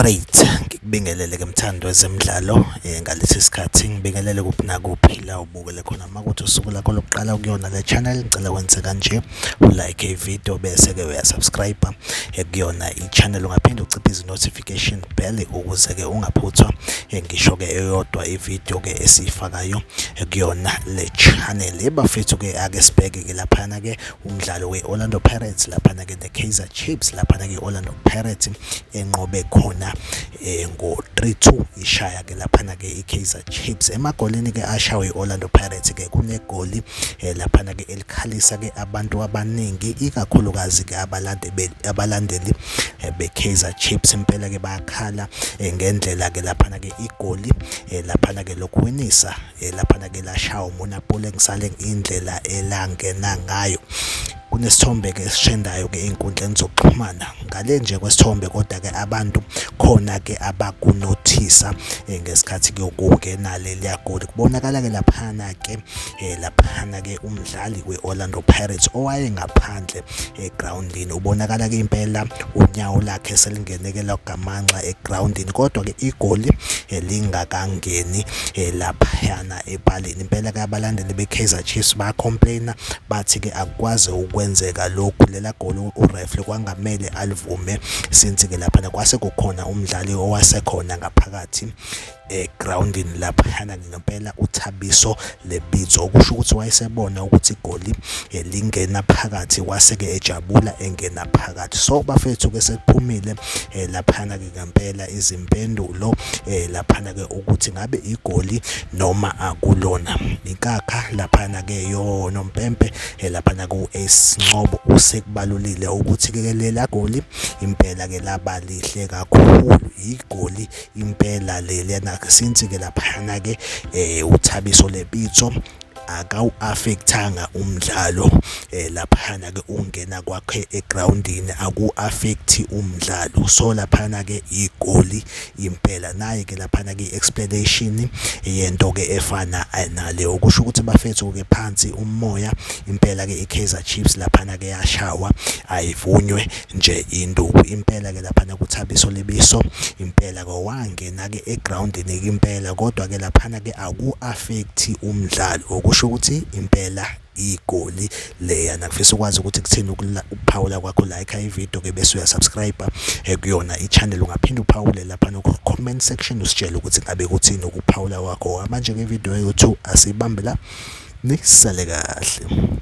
Alright, ngikubingelele ke mthando wezemidlalo eh, ngalesi sikhathi ngibingelele kuphi nakuphi la ubukele khona makuthi usuku lakho lokuqala kuyona le channel ngicela wenze kanje ulike ivideo bese ke uyasubscribe eh, kuyona i-channel ungaphinde uciphe izi-notification notification bell ukuze ke ungaphuthwa eh, ngisho ke eyodwa ivideo ke esiyifakayo eh, kuyona le channel bafethu ke ake sibheke ke laphana ke umdlalo we-orlando pirates laphana ke ne-kaizer chips laphana ke i-orlando pirates enqobe khona eh, ngo-3-2 ishaya ke laphana ke i-kaizer chips emagolini ke ashawe i-orlando pirates ke kunegoli laphana ke khalisa ke abantu abaningi ikakhulukazi ke abalandeli abalandeli eh, be Kaizer Chiefs impela ke bayakhala eh, ngendlela ke laphana ke igoli eh, laphana ke lokuwinisa laphana ke lashawa umona pole ngisale indlela elangena ngayo kunesithombe ke esishendayo ke ezinkundleni zokuxhumana ngale nje kwesithombe kodwa ke abantu khona ke abakunothisa eh, ngesikhathi kuyokungena leliya goli kubonakala ke laphana ke eh laphana ke umdlali kweOrlando Pirates owaye ngaphandle egroundini eh, ubonakala ke impela unyawo lakhe selingenekela ugamanxa egroundini kodwa ke igoli eh, lingakangeni eh, laphana epalini impela ke abalandeli beKaizer Chiefs ba complaina bathi ke akwazi ukwenzeka lokhu lela goli ureferee kwangamele alivume since ke laphana kwase kukhona umdlali owasekhona ngaphakathi egroundini laphayana ngempela uthabiso lebitso okusho ukuthi wayesebona ukuthi igoli eh, lingena phakathi wase-ke ejabula engena phakathi so bafethu ke sekuphumile eh, laphana-ke ngempela izimpendulo eh, laphana-ke ukuthi ngabe igoli noma akulona inkakha laphana-ke yonompempe laphana ku-ace ncobo usekubalulile ukuthi-ke lela goli impela-ke laba lihle kakhulu igoli impela le lena since ke laphana ke eh uthabiso lepitso akawu-affectanga umdlalo eh laphana ke ungena kwakhe egroundini aku-affect umdlalo so laphana ke igoli impela naye ke laphana ke explanation yento ke efana eh, naleyo ukusho ukuthi bafethu ke phansi umoya impela ke iKaizer Chiefs laphana ke yashawa ayivunywe nje induku impela ke laphana kuthabiso lebiso impela ke wangena ke egroundini ke impela kodwa ke laphana ke aku affect umdlalo okusho ukuthi impela igoli leya nakufisa ukwazi ukuthi kuthini ukuphawula kwakho like ivideo ke bese uyasubscribe eh, kuyona i-channel ungaphinde uphawule lapha ku-comment section usitshele ukuthi ngabe kuthini ukuphawula kwakho manje ke video yethu asibambe la nisale kahle